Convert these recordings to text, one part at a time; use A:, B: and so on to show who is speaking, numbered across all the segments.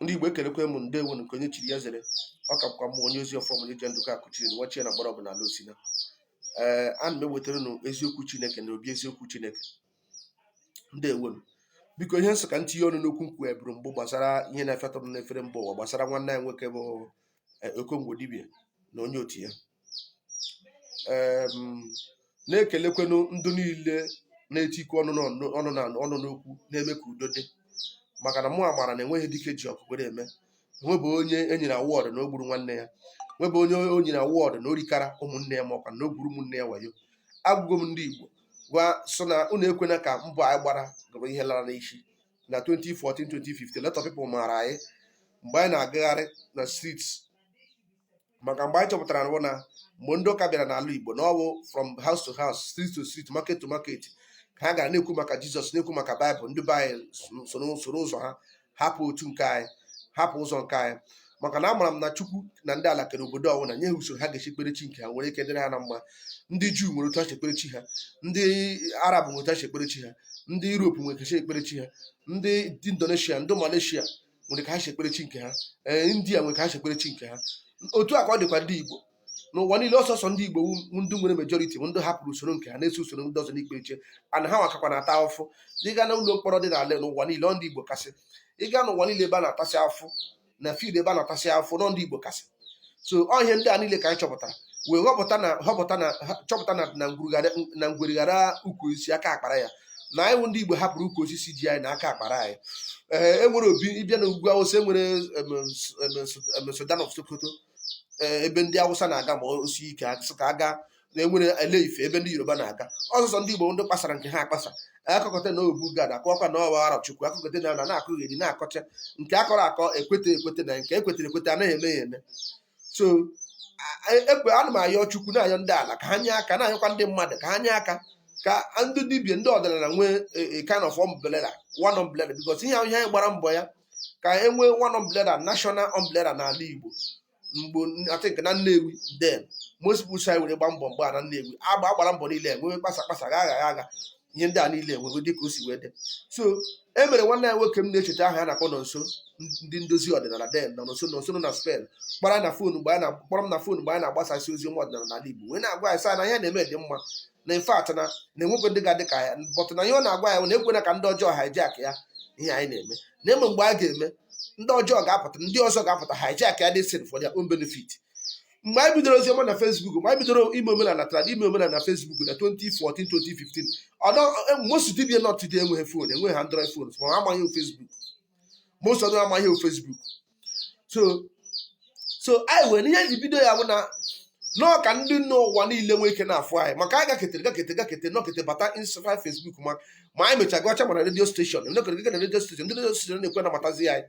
A: ndị Igbo ekelekwa m unu ndewonụ nke onye chiri ya zere ọ ka bụkwa m onye ozi ọfọm onye ji ndụka akụchiri na nwachie na gbara ọbụ n'ala Osina ee ana m ewetara unu eziokwu Chineke na obi eziokwu Chineke ndewonụ biko ihe m sị ka m tinye ọnụ n'okwu m kwuburu mbụ gbasara ihe na-efetọ m n'efere mba ụwa gbasara nwanne anyị nwoke bụ eh, okongwu dibia na onye otu ya na-ekelekwanụ ndị niile na-etikwu ọnụ n'okwu na-eme ka udo dị maka na mụ amara na enweghị dike ji ọkụ kwere eme nwebụ onye e nyere award na o gburu nwanne ya nwebụ onye e nyere award na o rikara ụmụnne ya makwa na o gwuru ụmụnne ya wayo agwago m ndị Igbo gwa sị na unu ekwena ka mbọ anyị gbara bụrụ ihe lara n'isi na 2014 2015 lot of people maara anyị mgbe anyị na-agagharị na streets maka mgbe anyị chọpụtara bụ na mgbe ndị ụka bịara n'ala Igbo na ọ wụ from house to house street to street market to market ka ha gara na-ekwu maka Jizọs na-ekwu maka Baịbụl ndị be anyị soro ụzọ ha hapụ otu nke anyị hapụ ụzọ nke anyị maka na amara m na chukwu na ndị ala kere obodo ọwụna nye ha usoro ha ga-esi kpere chi nke ha nwere ike dịrị ha na mma ndị juu nwere otu ha si ekpere chi ha ndị arab nwere otu ha si ekpere chi ha ndị europe nwere ka ha si ekpere chi ha ndị ndị indonesia ndị malaysia nwere ka ha si ekpere chi nke ha ee india nwere ka ha si ekpere chi nke ha otu a ka ọ dịkwa ndị igbo n'ụwa niile ọ sọọsọ ndị Igbo ndị nwere majority ndị hapụrụ usoro nke ha na-eso usoro ndị ọzọ na-ekpe chi ana ha nwa kakwa na-ata afụfụ ị gaa na ụlọ mkpọrọ dị n'ala n'ụwa niile ọ ndị Igbo kasị ị gaa n'ụwa niile ebe a na-atasị afụfụ na field ebe a na-atasị afụfụ ọ ndị Igbo kasị so ọ ihe ndị a niile ka anyị chọpụtara wee họpụta na họpụta na chọpụta na na ngwere ghara ukwu osisi aka akpara ya na anyị ndị Igbo hapụrụ ukwu osisi ji anyị na aka akpara anyị ee eh, enwere obi ị bịa na ugwu awụsa enwere Sultan of Sokoto eh, ebe ndị awụsa na-aga ma o sie ike a sị ka a gaa na enwere Ile Ife ebe ndị yoruba na-aga ọ sọọsọ ndị igbo ndị kpasara nke ha akpasa a kọkata na Obu Gad akọwakwa na ọ wụ Arọchukwu a kọkata na na-akọgheri na-akọcha nke akọrọ akọ ekweta ekweta na nke ekwetara ekweta anaghị eme ya eme so ana m ayọ chukwu na-ayọ ndị ala ka ha nye aka na-ayọkwa ndị mmadụ ka ha nye aka ka ndị dibia ndị ọdịnala nwee e, e, kind of umbrella one umbrella because ihe ahụ ihe anyị gbara mbọ ya ka e nwee one umbrella national umbrella n'ala Igbo mgbe I think na Nnewi then most people si were gba mbọ mgbe a na Nnewi agba agbara mbọ niile enwewe kpasa kpasa gha agha agha ihe ndị a niile enwego dịka o si wee dị so e nwere nwanne anyị nwoke m na-echeta aha ya na-akpọ Nonso ndị ndozi ọdịnala then Nonso Nonso nọ na Spain kpọrọ m na fon mgbe a na-akpọrọ m na fon mgbe anyị na-agbasasị ozi ọma ọdịnala n'ala Igbo wee na-agwa anyị sị na ihe anyị na-eme dị mma na in fact na na enwekwe ndị ga-adị ka ya but na ihe ọ na-agwa ya na ekwena ka ndị ọjọọ hijack ya ihe anyị na-eme na eme mgbe a ga-eme ndị ọjọọ ga-apụta ndị ọzọ ga-apụta hijack ya this thing for their own benefit mgbe anyị bidoro oziọma na Facebook mgbe anyị bidoro ime omenala trad ime omenala na Facebook na 2014 2015 although most dibịa nọ today enweghị fon enweghị Android phones ma ha amaghị Facebook most of them amaghị Facebook so so anyị wee ihe ji bido ya bụ na nọọ ka ndị nọ ụwa niile nwee ike na-afụ anyị maka anyị gaketere gakete gakete nọkete bata Instagram Facebook ma ma anyị mecha gụọcha ma na redio steshọn nọkere gị na redio steshọn ndị redio steshọn na-ekwe nabatazi anyị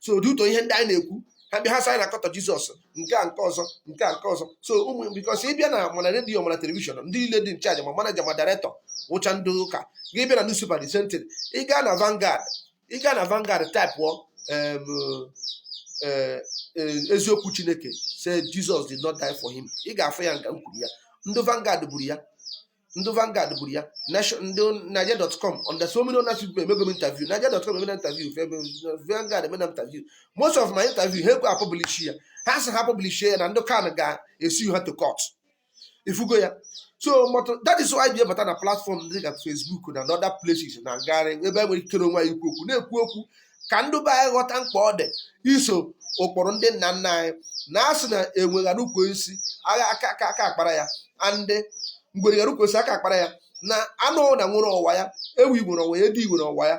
A: so due to ihe ndị anyị na-ekwu ha bịa ha sị anyị na-akọtọ Jizọs nke a nke ọzọ nke a nke ọzọ so um because ị bịa na ma na redio ma na telivishọn ndị niile dị in charge ma manaja ma dairektọ wụcha ndị ụka gị bịa na newspaper the same thing ị gaa na Vanguard ị gaa na Vanguard taịpụọ em, eh, eh, eziokwu Chineke say Jesus did not die for him ị ga-afụ ya nga m kwuru ya ndị Vanguard buru ya ndị Vanguard buru ya Nation- ndị Nigeria.com and so many other people emego m interview Nigeria.com emena interview Vanguard emena interview most of my interview ha ekwe apublish ya ha sị ha publish ya na ndị CAN ga-esue ha to court ị fụgo ya so but that is why bịa bata na platform dị ka Facebook na other places na-agagharị ebe e nwere ikere onwe anyị ikwu okwu na-ekwu okwu ka ndị be anyị ghọta mkpa ọ dị iso ụkpụrụ ndị nna nna anyị na a sị na enwe ghara ukwu osisi agha aka aka aka akpara ya and ngwere ghara ukwu osisi aka akpara ya na anụ na nwere ọwa ya ewu nwere ọwa ya edi nwere ọwa ya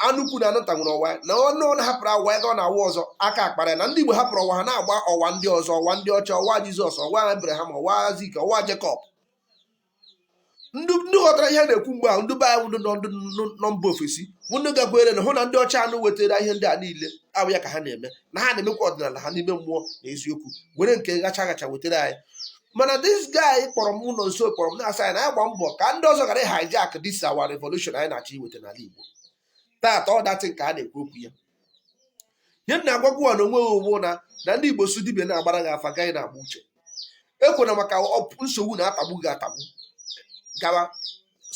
A: anụ ukwu na anụ nta nwere ọwa ya na anụ na hapụrụ ọwa ya gaa n'ọwa ọzọ aka akpara ya na ndị Igbo hapụrụ ọwa ha na-agba ọwa ndị ọzọ ọwa ndị ọcha ọwa Jizọs ọwa Abraham ọwa Aịzik ọwa Jekọb ndị ghọtara ihe na-ekwu mgbe ahụ ndị be anyị ndị nọ mba ofesi ndị gakwere na hụ na ndị ọcha ahụ wetara ihe ndị a niile abụ ya ka ha na-eme na ha na-emekwa ọdịnala ha n'ime mmụọ na eziokwu were nke ghacha ghacha wetara anyị mana this guy kpọrọ m ụlọ nso kpọrọ m na-asị anyị na anyị gbaa mbọ ka ndị ọzọ ghara hijack this our revolution anyị na-achọ iweta n'ala Igbo tata ọ datị nke a na-ekwu okwu ya ihe m na-agwagwa na onwe ụgbụ na na ndị Igbo sị dibịa na-agbara gị afa gị ana-agba uche ekwena maka nsogbu na-atagbu gị atagbu gawa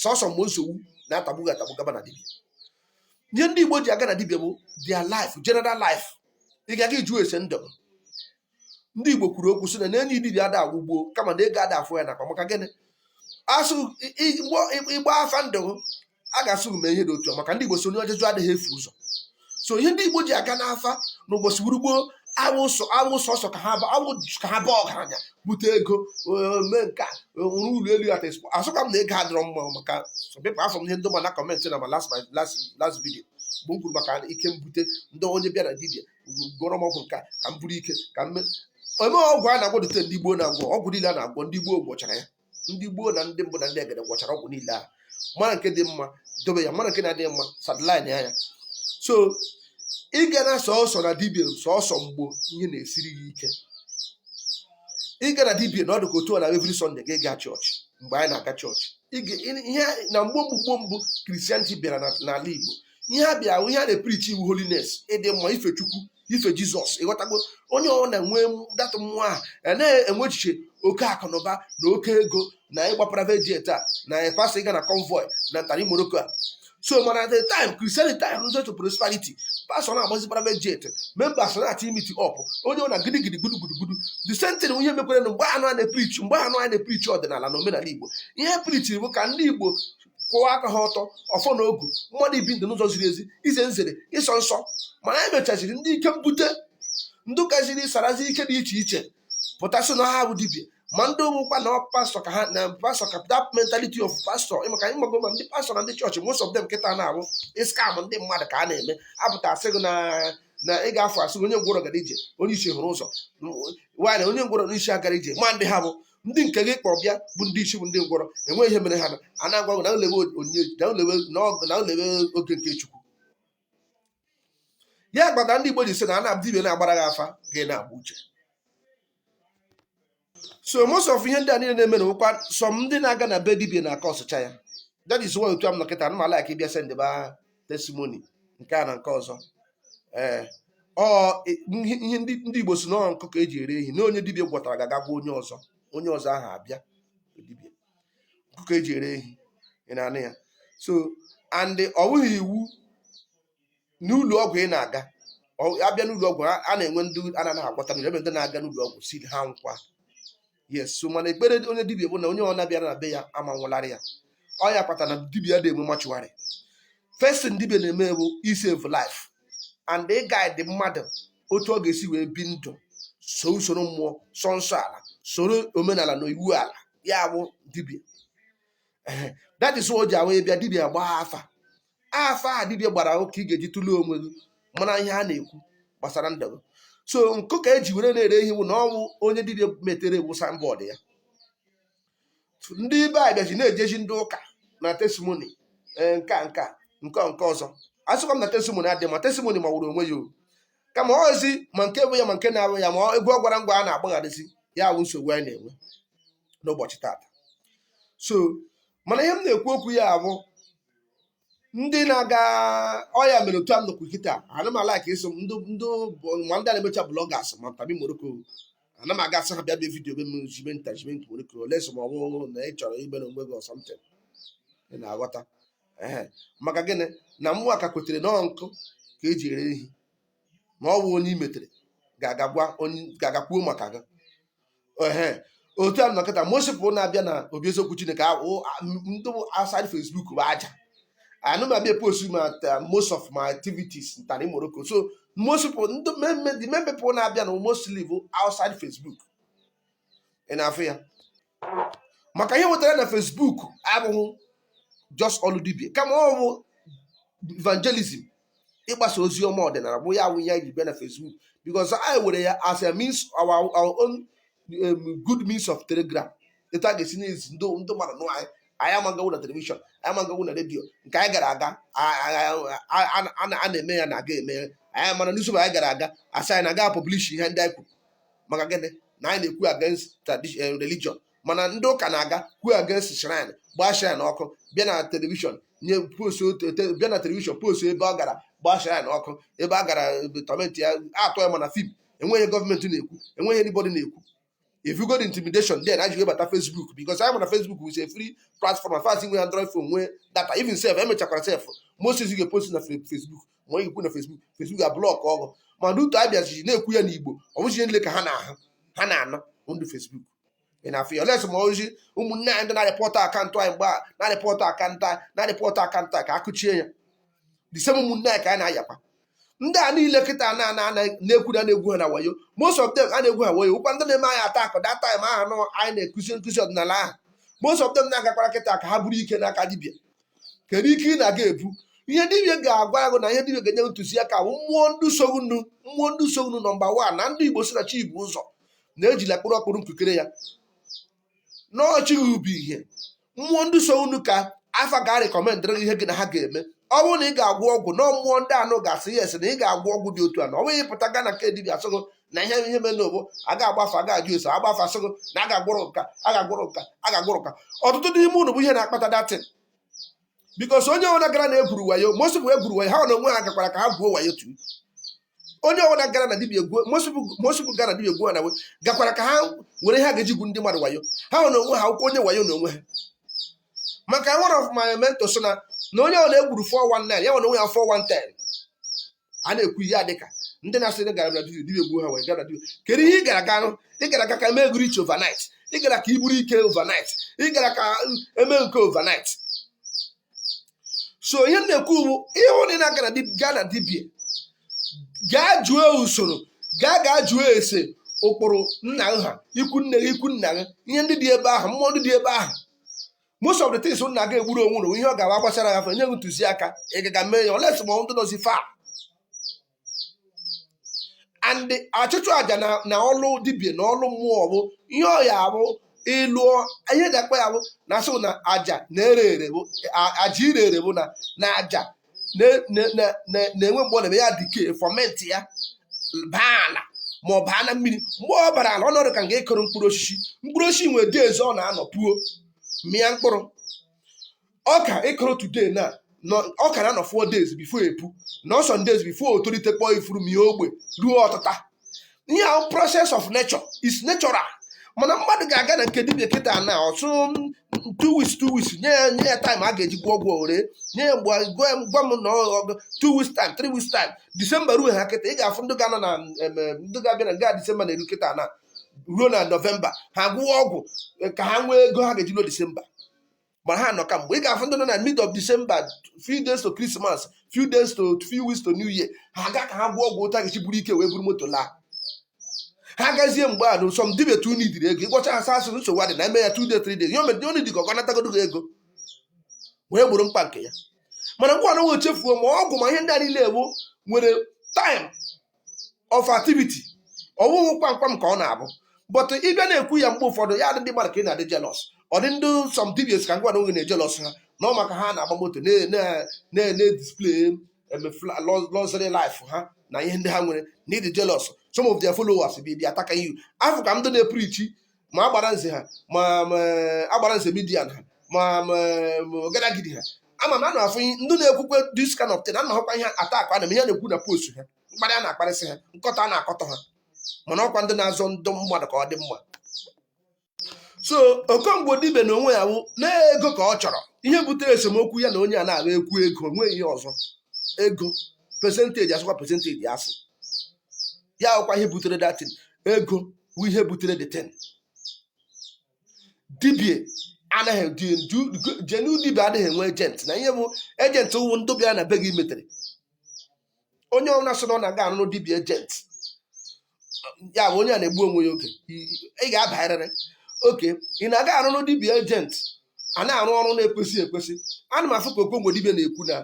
A: sọsọ mgbe nsogbu na-atagbu gị atagbu gaba na dibịa ihe ndị Igbo ji aga na dibịa bụ their life general life ị ga-aga ịjụ ese ndụ ndị Igbo kwuru okwu sị na enyi dibịa ada anwụ gboo kama na ego ada afọ ya n'akpa maka gịnị a sị ị gbaa afa ndụ a ga-asị mee ihe dị otu maka ndị Igbo sị onye ajụjụ adịghị efu ụzọ so ihe ndị Igbo ji aga n'afa n'ụbọchị gboo gboo awụ sọsọ ka ha baa ọgaranya bute ego eh, mee nke nwụrụ eh, ụlọ elu at expo asịkwa m na ego adịrọ mma maka some people afụ m ihe ndị mmadụ na-comment na my last video ebe m kwuru maka ike mbute ndị onye bịa na dibịa gwọọrọ m ọgwụ nke ka m buru ike ka m eme ọgwụ a na-agwọdụte ndị gboo na-agwọ ọgwụ niile a na-agwọ ndị gboo gwọchara ya ndị gboo na ndị mbụ na ndị egede gwọchara ọgwụ niile ahụ mara nke dị mma dobe ya mara nke na-adịghị mma sideline ya ya so ị ga na sọsọ na dibia sọsọ mgbo ihe na-esiri gị ike ị ga na dibia na ọ dị ka otu a na every sunday gị gaa chọọchị mgbe anyị na-aga chọọchị ihe na mgbe mgbe mbụ christianity bịara n'ala igbo ihe a bịa ihe a na-eprichi wụ holiness ịdị mma ife chukwu ife jizọs ịghọtago onye ọ na-enwe that mmụọ a a na-enwe echiche oke akụ na ụba na oke ego na ịgba private jet a na pastọ ịga na convoy na ntari morocco a so mana at the time christianity rụzi to prosperity pastọ na-agbazi private jet members na-ati imeet up onye ọ na gidigidi gbudugbudugbudu the same thing ihe mekwere na mgbe anụ a na-eprichi mgbe anụ a na-eprichi ọdịnala na omenala igbo ihe prichi bụ ka ndị igbo kwụwa aka ha ọtọ ọfọ na ogu mmadụ ibi ndụ n'ụzọ ziri ezi ize nzere ịsọ nsọ mana anyị mechaziri ndị ike mbute ndị gaziri sarazi ike dị iche iche pụtasị na ha bụ dibia ma ndị ụmụkwa na pastọ ka ha na pastọ ka that mentality of pastọ maka anyị mago ma ndị pastọ na ndị chọọchị most of them kịta na ọ bụ ịscam ndị mmadụ ka ha na-eme apụta asị gị na na ị ga-afụ asị gị onye ngwọrọ gara ije onye isi hụrụ ụzọ nwaanyị onye ngwọrọ n'isi agara ije ma ndị ha bụ ndị nke gị kpọ bịa bụ ndị isi bụ ndị ngwọrọ enweghị ihe mere ha na a na-agwa gị na ulewe onyinye na ulewe na ọ- na ulewe oge nke chukwu ya kpata ndị igbo ji sị na a na-abụ dibia na-agbara gị afa gị na-agba uche so most of ihe ndị a niile na-eme na ọ wụkwa some ndị na-aga na be dibia na-akọsụcha ya that is why otu a m nọ kịta anaghị m allow ka ị bịa sendiba testimony nke a na nke ọzọ ee ihe ndị Igbo sị na ọ nkụ ka eji ere ehi na onye dibia gwọtara ga-aga gwa onye ọzọ onye ọzọ ahụ abịa dibia nkụ ka eji ere ehi ị na-anụ ya so and ọ bụghị iwu n'ụlọ ọgwụ ị na-aga abịa n'ụlọ ọgwụ a na-enwe ndị a na-anaghị agwọta enwere ndị na-aga n'ụlọ ọgwụ si ha nwụkwa yes so mana ekpere onye dibia bụ na onye ọ na bịara na be ya ama nwụlarị ya ọ ya kpatara na dibia adị enwe mortuary first thing dibia na-eme bụ isave life and ị guide mmadụ otu ọ ga-esi wee bi ndụ so soro mmụọ sọ nsọ ala soro omenala na iwu ala ya bụ dibia Ehe, that is o ji awụ ị bịa dibia agbaa afa afa a dibịa gbara ahụ ka ị ga-eji tụlee onwe gị mara ihe a na-ekwu gbasara ndụ gị so nkụ ka eji were na-ere ihe bụ na ọ wụ onye dibịa metere wụ signboard ya ndị dibịa bịazi na-ejije ndị ụka na testimoni eh, nke a nke a nke a, nke ọzọ asịkwa m na testimoni adị mma testimoni mawụrụ onwe ya o kama ọ wụzi ma nke bụ ya ma nke na-abụ ya ma ọ- egwu ọ gwara ngwa a na-agbagharịzi ya bụ nsogbu anyị na-enwe n'ụbọchị tata so mana ihe m na-ekwu okwu ya bụ ndị na-aga ọ ya mere otu a m nọkwu kịta ana m alaik eso m ndị ma ndị na-emecha blọgas ma ntabi moroko ana m aga asị ha bịa bịa vidiyo be m jibe nta jibe nke moroko unless ma ọ bụrụ na ị chọrọ imere onwe gị something ị na-aghọta ee maka gịnị na mụwa ka kwetere na nkụ ka eji ere ehi na ọ bụ onye i metere ga-agagwa onye ga-agakwuo maka gị ehe otu a m nọ kịta most people na-abịa na obi eziokwu chineke ahụ ndị outside facebook bụ aja anaghị m abịa post ma ta- most of my activities ntara morocco so most people ndị main the main people na-abịa na mostly bụ outside facebook ị na-afụ ya maka ihe wetara na Facebook abụghị just ọlụ dibia kama ọ bụ evangelism ịgbasa ozi ọma ọdịnala bụ ya awụ ya ji bịa na Facebook because anyị were ya as a means our, our own um, good means of telegram etu a ga-esi na-ezi ndị ndị mmadụ nụ anyị anyị ama gawa na telivishọn anyị ama gawa na redio nke anyị gara aga a- a- a- a- a na- a na-eme ya na aga eme ya anyị mana n'izu anyị gara aga asị anyị na aga publish ihe ndị anyị kwuru maka gịnị na anyị na-ekwu against tradition eh, religion mana ndị ụka na-aga kwuo against shrine gbaa shrine ọkụ bịa na telivishọn nye post bịa na telivishọn post ebe ọ gara gbaa shrine ọkụ ebe a gara tọmentị ya atọ ya mana fim enweghị gọọmenti na-ekwu enweghị anybody na-ekwu ị fụgo the intimidation then anyị abata facebook because a ma na facebook is a free platform as far as i nwere android phone nwee data even self emechakwara self most things ị ga-epost na facebook ma i kwuo na Facebook Facebook ga-ablọk gị mana otu abịazi na-ekwu ya n'Igbo ọ bụghị ihe niile ka ha na-ahụ ha na-anụ ndị Facebook ị na-afụ ya unless ma ọ bụzi ụmụnne anyị ndị na-arịpọtụ akaụntụ anyị mgbe a na-arịpọtụ akaụntụ anyị na-arịpọtụ akaụntụ anyị ka akụchie ya the same ụmụnne anyị ka anyị na-ayakwa ndị a niile kịta na na na-ekwu na na-egwu ha na wayo most of them a na-egwu ha wayo wụkwa ndị na-eme anyị attack that time ahụ anyị na-akụzi nkụzi ọdịnala ahụ most of them na-agakwara kịta ka ha buru ike n'aka dibịa kedu ike ị na-aga ebu ihe dibia ga-agwa gị na ihe dibia ga-enye ntụziaka bụ mmụọ ndị so gị nụ mmụọ ndị so gị nụ nọmba wan na ndị igbo si na chi ibu ụzọ na ejila kpụrụ ọkpụrụ nkukere ya n'ọchịghị ubi ihe mmụọ ndị so gị nụ ka afa ga rekọmendịrị gị ihe gị na ha ga-eme ọ bụrụ na ị ga-agwọ ọgwụ na ọ mmụọ ndị anụ ga-asị yes na ị ga-agwọ ọgwụ dị otu a na ọ bụghị ịpụta gaa na nke dibia asị gị na ihe ihe mere n'ogbo a ga-agba afa a ga-ajụ ese a gbaa afa sị gị na a ga-agwọrọ nke a a ga-agwọrọ nke a a ga-agwọrọ nke a ọtụtụ n'ime unu bụ ihe na-akpata that thing because onye ọbụla gara na egwuru wayo most people egwuru wayo ha na onwe ha gakwara ka ha gwuo wayo too onye ọbụla gara na dibia egwuo most people gara dibia egwuo na we gakwara ka ha were ihe ha ga-eji gwu ndị mmadụ wayo ha na onwe ha akwụkwọ onye wayo na onwe ha maka one of my mentors sị na onye ọbụla egwuru 419 ya na onwe ya 410 a na-ekwu ihe a dịka ndị na-asị na gara be dibia dibia egbuo ha wee gara dibia kedu ihe ị gara ganụ ị gara ka ka mee gị rich overnight ị gara ka i buru ike overnight ị gara ka e mee nke overnight so ihe m na-ekwu bụ ịhụ na ị na-aga na dib- gaa na dibia gaa jụọ usoro gaa gaa jụọ ese ụkpụrụ nna ha ikwu nne gị ikwu nna gị ihe ndị dị ebe ahụ mmụọ ndị dị ebe ahụ most of the things unu na-aga egburu onwe unu ihe ọ ga-agba gbasara ya afa e nye gị ntụziaka ị gaga mee ya unless ma ndị nọzi far and achụchụ aja na na ọlụ dibia na ọlụ mmụọ bụ ihe ọ ya bụ ịlụọ ihe dakpa ya bụ na asị na aja na-ere ere bụ a- aja ire ere bụ na na aja na-enwe mgbe ọ na-eme ya decay ferment ya baa ala ma ọ baa na mmiri mgbe ọ bara ala ọ nọdụ ka nga ị kụrụ mkpụrụ osisi mkpụrụ osisi nwere days ọ na-anọ puo mịa mkpụrụ ọka ị kụrụ today na ọka na-anọ four days before epu nọọ some days before o tolite kpọọ ifuru mie ogbe ruo ọtụta ihe ahụ process of nature is natural mana mmadụ ga-aga na nke dibia kịta na-asị two weeks two weeks nye ya nye ya time a ga-eji gwọọ ọgwụ o ree nye ya mgbe gwa m gwa m na ọ bụ two weeks time three weeks time disemba ruo ha kịta ị ga-afụ ndị ga-anọ na em, em, ndị ga-abịa na nga disemba na-eru kịta na ruo na nọvemba ha gwọọ ọgwụ eh, ka ha nwee ego ha ga-eji ruo disemba mana ha nọ ka mgbe ị ga-afụ ndị nọ na mid of December few days to Christmas few days to few weeks to New Year ha gaa ka ha gwọọ ọgwụ ụta ga-eji buru ike wee buru moto laa ha gazie mgbe a na some dibia too nidiri ego ị gwọcha ha saa asụrụ nsogbu adị na eme ya two days three days ya omedi onye dịka ọ ga-anatagodo gị ego wee gburu mkpa nke ya mana nwanne chefuo ma ọgwụ ma ihe ndị a niile ọ wụ nwere time of activity ọ wụghị kwamkwam ka ọ na-abụ but ị bịa na-ekwu ya mgbe ụfọdụ ya dị ndị mmadụ ka ị na-adị jealous ọ dị ndị some dibias ka mụwa na onwe m na-ejealous ha na ọ maka ha na-agba moto na-display luxury life ha na ihe ndị ha nwere na ị dị jealous some of their followers bi bịa attack you afụka m ndị na-eprichi ma agbara nze ha ma agbara nze midia ha ma ọgadagidi ha ama m na a na-afụ ndị na-ekwukwe this kind of thing a na-ahụkwa ihe attack a na ihe na-ekwu na post ha mkparị a na-akparịsị ha nkọtọ a na-akọtọ ha mana ọ kwa ndị na-azọ ndị mmadụ ka ọ dị mma so okongbo dibia na onwe ya wụ na ego ka ọ chọrọ ihe butere esemokwu ya na onye a na-agba ekwu ego o nweghị ihe ọzọ ego percentage asụkwa percentage asụ ya wụkwa ihe butere that thing ego bụ ihe butere that thing dibia anaghị genuine dibia anaghị enwe agent na ihe bụ agent wụ ndị bịa na be gị i metere onye ọbụla sị na ọ na-aga arụrụ dibia agent ya bụ onye a na-egbu onwe ya okay ị ga-abarịrị okay ị na-aga arụrụ dibia agent a na-arụ ọrụ na-ekwesị ekwesị ana m afụ ka okongwu dibia na-ekwu na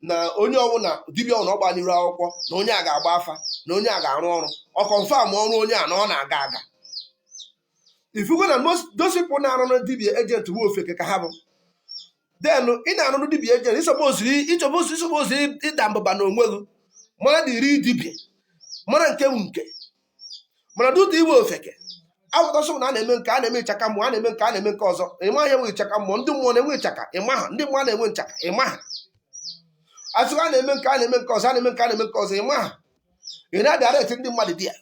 A: na onye ọbụla dibia ọbụla ọ gba n'iru akwụkwọ na onye a ga-agba afa na onye a ga-arụ ọrụ ọ confirm ọrụ onye a na ọ na-aga aga ifugo na those people na-arụ dibia agent bụ ofeke ka ha bụ then ị na-arụrụ dibia agent ịsọboziri ịchọbozi ịsọbozi ịda mbụba na onwe gị mara dịrị dibia mara nke bụ nke mana due to iwe ofeke awụtasị na a na-eme nke a na-eme ịchaka mmụọ a na-eme nke a na-eme nke ọzọ ịma ya enwe ịchaka mmụọ ndị mmụọ na-enwe ịchaka ịma ha ndị mmụọ na-enwe nchaka ịma ha asị a na-eme nke a na-eme nke ọzọ a na-eme nke a na-eme nke ọzọ ịma ha ị na-adirecti ndị mmadụ di ya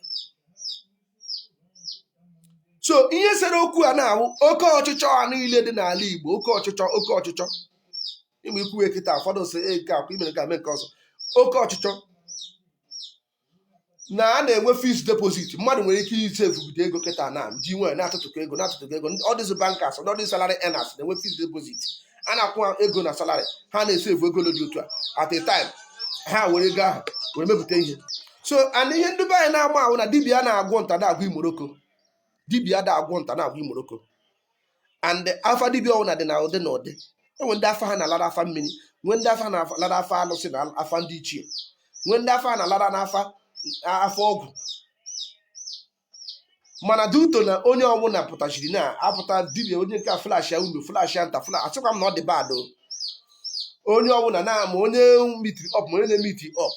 A: so ihe sere okwu a na-awụ oke ọchịchọ a niile dị n'ala Igbo oke ọchịchọ oke ọchịchọ ịma ikwuwe kịta ụfọdụ sị e nke akwa imere ka mee nke ọzọ oke ọchịchọ na a na-enwe fixed deposit mmadụ nwere ike isevugide ego kịta na ji nwere na-atụtụkọ ego na-atụtụkọ ego all these bankers all these salary earners na-enwe fixed deposit a na-akwụ ha ego na salary ha na-esevu ego dị otu a at a time ha were ego ahụ were mepụta ihe so and ihe ndị be anyị na-ama ahụ na dibia na-agwọ nta na-agwọ imoroko dibia na-agwọ nta na-agwọ imoroko and afa dibịa ọbụla dị na ụdị na ụdị enwe ndị afa ha na-alara afa mmiri nwee ndị afa na-alara afa alụsị na afa ndị ichie nwee ndị afa na-alara n'afa afa ọgwụ mana due to na onye ọbụla pụtachiri na-apụta dibia onye nke a flashia unu flashia nta fla asịkwa m na ọ dị bad onye ọbụla na-ama onye meetiri up ma onye na-emeeti up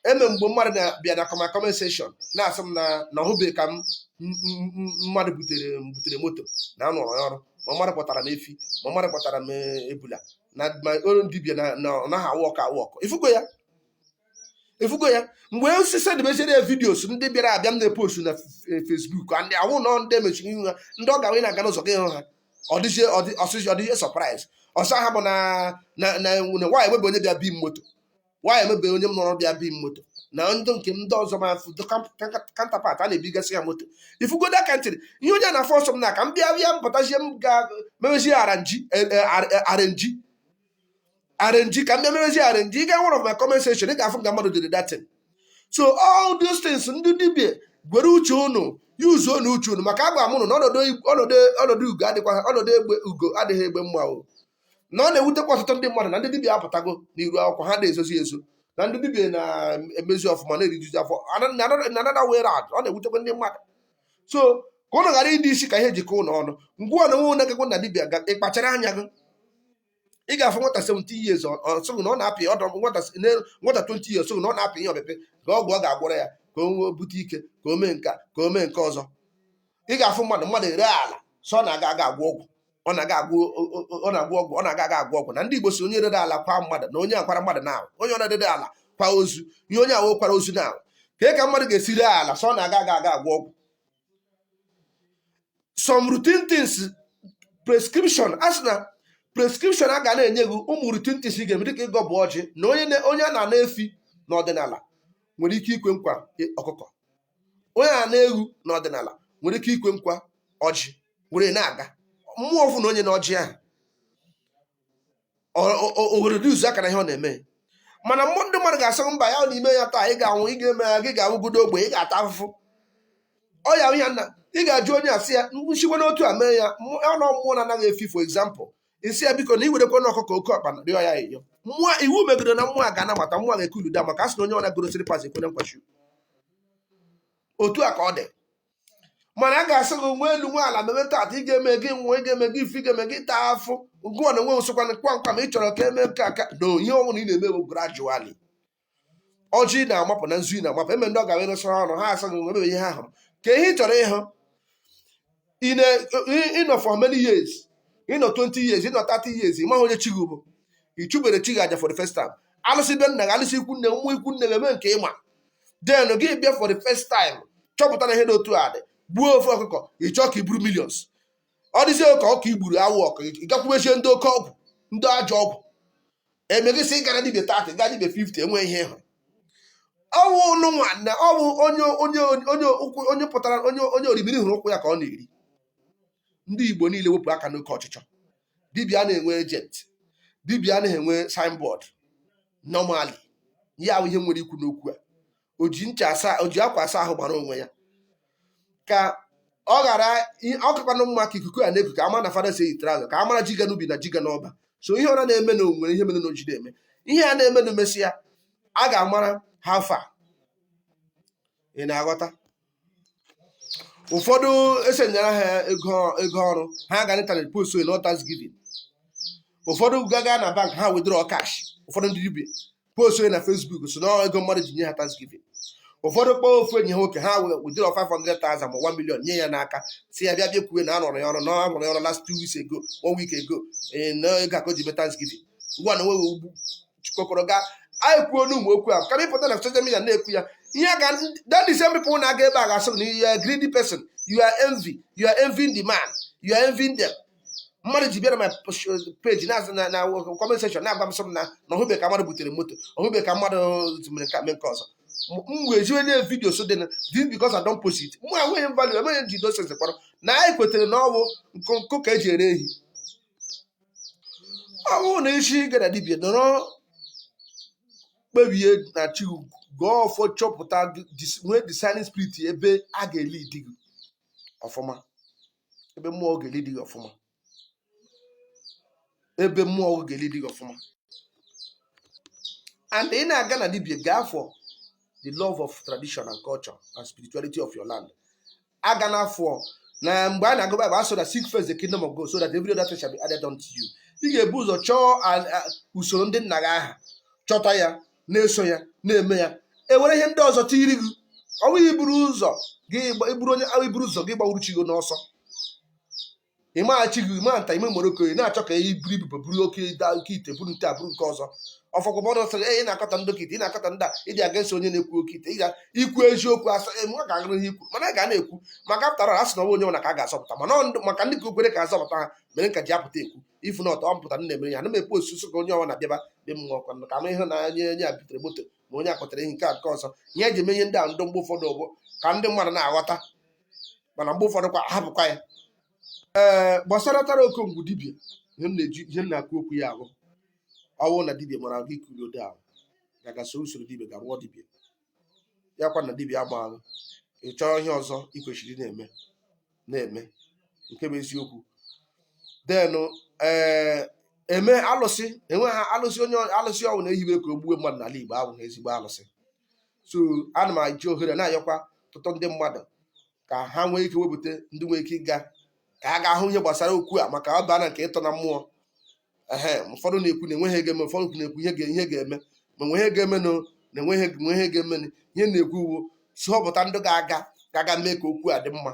A: eme mgbe mmadụ na-abịa na kọma comment section na-asị m na na ọ hụbeghị ka m m- m- m- mmadụ butere m butere moto na a rụrụ ọrụ ma mmadụ kpọtara m efi ma mmadụ kpọtara m eh, ebula na ma olu dibia na na ọ naghị awụ ọkụ awụ ọkụ ifugo ya ifugo ya mgbe osisi dịmechere ya videos ndị bịara abịa m na-epostu na fe- Facebook a ndị awụ nọ ndị mechiri ihu ha ndị ọ ga wee na-aga n'ụzọ gị hụ ha ọ dịzie ọ dị- ọsịsị ọ dịzie surprise ọsọ ha bụ na na na na why enwebe onye bịa bi m moto why enwebe onye m nọrọ bịa bi m moto na ndị nke ndị ọzọ ma afụ counterpart a na-ebigasị ya moto ifugodo aka ntịrị ihe onye na-afọ ọsọ m na ka m bịa bịa mpụtazie m ga mewezie aranji arenji arenji ka m bịa mewezie arenji ị ga one of my comment section ị ga-afụ nga mmadụ dere that thing so all these things ndị dibia gwere uche unu yuzuo unu uche unu maka agwa m unu na ọnọdụ ọnọdụ ọnọdụ ugo adịkwa ọnọdụ egbe ugo adịghị egbe mma o na ọ na-ewutekwa ọtụtụ ndị mmadụ na ndị dibịa apụtago n'iru akwụkwọ ha na-ezozi ezo na ndị dibịa na-emezi ọfụma na-erijuzi afọ anada were adụ ọ na-ewutekwa ndị mmadụ so ka ụnụ ghara ịdị isi ka ihe jikọ ụnụ ọnụ ngwa na nwe na-egekwa na dibịa ga ịkpachara anya gị ị ga-afụ nwata 17 years ọ sị gị na ọ na-apị ọdọ nwata 20 years ọ sị gị na ọ na-apị ihe ọpịpị ka ọgwụ ọ ga-agwọrọ ya ka o nwee bute ike ka o mee nke a ka o mee nke ọzọ ị ga-afụ mmadụ mmadụ ere ala sị ọ na-aga aga agwọ ọgwụ ọ na-aga agwọ ọ na-agwọ ọgwụ ọ na-aga aga agwọ ọgwụ na ndị Igbo sị onye rere ala kwa mmadụ na onye akwara mmadụ na onye ọ na-edede ala kwa ozu ihe onye ahụ kwara ozu na ka ka mmadụ ga-esi ree ala so ọ na-aga aga aga agwọ ọgwụ some routine things prescription a sị na prescription a ga na-enye gị ụmụ routine things ị ga-eme dịka ịgọ bụ ọjị na onye a na-ana efi n'ọdịnala nwere ike ikwe nkwa ọkụkọ onye a na-eghu n'ọdịnala nwere ike ikwe nkwa ọjị were na-aga mmụọ ọfọ na onye na ọjị ahụ ohere dị uzu aka na ihe ọ na-eme mana mmụọ ndị mmadụ ga-asị mba ya na ime ya taa ị ga-anwụ ị ga-eme ya gị ga-awụgodo ogbe ị ga-ata afụfụ ọ ya ya na ị ga-ajụ onye a sị ya nchiwe n'otu a mee ya ọnụ mmụọ na-anaghị efi for example ị sị ya biko na i werekwa na ọkụkọ oke ọkpa na-arịọ ya eyo mmụọ iwu megidere na mmụọ ga-anabata mmụọ ga-ekuluda maka a sị na onye ọ na-agorosiri pas ekwere nkwa chi otu a ka ọ dị mana a ga-asị gị nwe elu nwe ala mebe tata ị ga-eme gị nwa ị ga-eme gị ife ị ga-eme gị taa afụ gụọ na onwe nsokwa na kpamkpa ma ị chọrọ ka e mee nke aka na ihe ọbụla ị na-eme bụ gradually ọjị ị na-amapụ na nzu ị na-amapụ eme ndị ọ ga-abịa n'usoro ọnụ ha asị gị nwa mebe ihe ha hụrụ ka ihe ị chọrọ ịhụ ị na- ị- ị nọ for many years ị nọ 20 years ị nọ 30 years ị maghị onye chi gị bụ ị chụbere chi gị aja for the first time alụsị be nna gị alụsị ikwu nne gị, mmụọ ikwu nne gị e mee nke ị ma then gị bịa for the first time chọpụta na ihe dị otu a dị gbuo ofu ọkụkọ ị chọọ ka i buru millions ọ dịzie ka ọka i gburu awụ ọkụ ị gakwubezie ndị oke ọgwụ ndị ajọ ọgwụ e mee gị sị ị gara dibịa 30 gaa dibịa 50 enwe ihe ị hụ ọ wụ nụ nwanna ọ bụ onye onye onye ụkwụ onye pụtara onye onye orimiri hụrụ ụkwụ ya ka ọ na-eri ndị Igbo niile wepụ aka n'oke ọchịchọ dibịa na-enwe agent dibịa anaghị enwe signboard normally ya wụ ihe nwere ikwu n'okwu a o ji ncha asa o ji akwa asa ahụ mara onwe ya ka ọ ghara ọ kakwanụ mma ka ikuku a na-eku ka a ma na fada si eyi traza ka a mara ji ga n'ubi na ji ga n'ọba so ihe ọra na-eme na o nwere ihe mere na o ji na-eme ihe a na-eme na mesịa a ga-amara how far ị na-aghọta ụfọdụ esenyere ha ego ego ọrụ ha ga n'ịntanetị post na ọ thanksgiving ụfọdụ ga-aga na bank ha withdraw cash ụfọdụ ndị dibịa post na Facebook sị na ego mmadụ ji nye ha thanksgiving ụfọdụ kpọọ ofu enyi ha nwoke ha wee withdraw 500,000 ma 1 million nye ya n'aka sị ya bịa bịa kwuwe na a rụrụ ya ọrụ na ọ rụrụ ya ọrụ last two weeks ago one week ago ee na ego a ka o ji mee thanksgiving ngwa na nwe ugbu jikọkọrọ gaa anyị kwuo n'ụmụ okwu ahụ kama ịpụta na social media na-ekwu ya ihe a ga that the same people na-aga ebe a ga-asị na you are a greedy person you are envy you are envying the man you are envying them mmadụ ji bịara my page na na na comment section na-agwa m sị m na na ọ hụbe ka mmadụ butere moto ọ hụbe ka mmadụ mere ka mee nke ọzọ m wee ziwe ya vidio so dị na this because I don't post it mụ enweghị m value enweghị m ji dosens kpọrọ na anyị kwetere na ọ wụ nkụ ka eji ere ehi ọ bụrụ na ị si ga na dibia nọrọ kpebie na chi gị gọọ ọfọ chọpụta gị, dis- nwee discerning spirit ebe a ga-elidi gị ọfụma ebe mmụọ ga-elidi gị ọfụma ebe mmụọ gị ga-elidi gị ọfụma and ị na-aga na dibia gaa for the love of tradition and culture and spirituality of your land a ga na-afụ na mgbe a na-agụ Bible a sị na seek first the kingdom of God so that every other thing shall be added unto you ị ga-ebu ụzọ chọọ a- a- usoro ndị nna gị aha chọta ya na-eso ya na-eme ya e were ihe ndị ọzọ tiiri gị ọ bụghị iburu ụzọ gị gba- iburu onye iburu ụzọ gị gbawuru chi gị n'ọsọ ị maghị chi gị ịma nta ime moroko ị na-achọ ka i buru ibobo buru oke da oke ite buru nke a buru nke ọzọ ụfọdụ mmadụ sịrị "Ee, ị na-akọtọ ndị oke ite ị na-akọtọ ndị a ịdị aga esi onye na-ekwu oke ite ị ga ikwu eziokwu asa emu ọ ga-agụrụ ihe ikwu mana a ga na-ekwu maka pụtara a sị na ọnwa onye nwere ka a ga-azọpụta mana ọ ndụ- maka ndị ka o kwere ka a zọpụta ha mere m ka ji apụta ekwu ị fụ na ọtọ ọ mpụta nna emere ya ana m ekwu sọsọ ka onye ọwụna bịaba be m nwakwa ka m ihe na onye onye a butere moto ma onye akpọtara ihe nke a nke ọzọ ihe eji eme ihe ndị a ndị mgbe ụfọdụ bụ ka ndị mmadụ na-aghọta mana mgbe ụfọdụ kwa a hapụkwa ya ee gbasara tara okongwu dibia ihe m na-eji ihe m na-ekwu okwu ya ahụ ọ wụ na dibia mara gị kuri ode ahụ gaga soro usoro dibia ga rụọ dibia ya kwa na dibia amaghị gị chọọ ihe ọzọ ị kwesịrị na-eme na-eme nke bụ eziokwu then ee eme alụsị enweghị alụsị onye alụsị ọwụna e hibe ka o gbuwe mmadụ n'ala Igbo ọ wụ na ezigbo alụsị so ana m eji ohere na-ayọkwa ọtụtụ ndị mmadụ ka ha nwee ike wepụta ndị nwee ike ịga ka ha ga hụ ihe gbasara okwu a maka ọ baana nke ịtọ na mmụọ ehe ụfọdụ na-ekwu na enweghị ihe ga-eme ụfọdụ na-ekwu ihe ga- ihe ga-eme ma nwe ihe ga-eme na na enweghị nwe ihe ga-eme na ihe m na-ekwu wụ sị họpụta ndị ga-aga ga-aga mee ka okwu a dị mma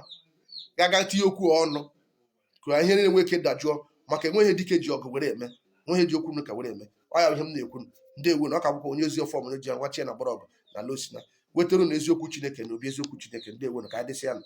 A: ga-aga tinye okwu a ọnụ ka ihe niile nwee ike dajụọ maka enweghị ihe dike ji ọgụ were eme nweghị ji okwu nka were eme ọ ya bụ ihe m na-ekwu nụ. ndewo nụ ọ ka bụkwa onye ozi ọfọ mụrụ ji ya gwachie na mgbọrọgwụ na alụsị na-ewetara ụnụ eziokwu chineke na obi eziokwu chineke ndewo nụ ka anyị dịsịa nụ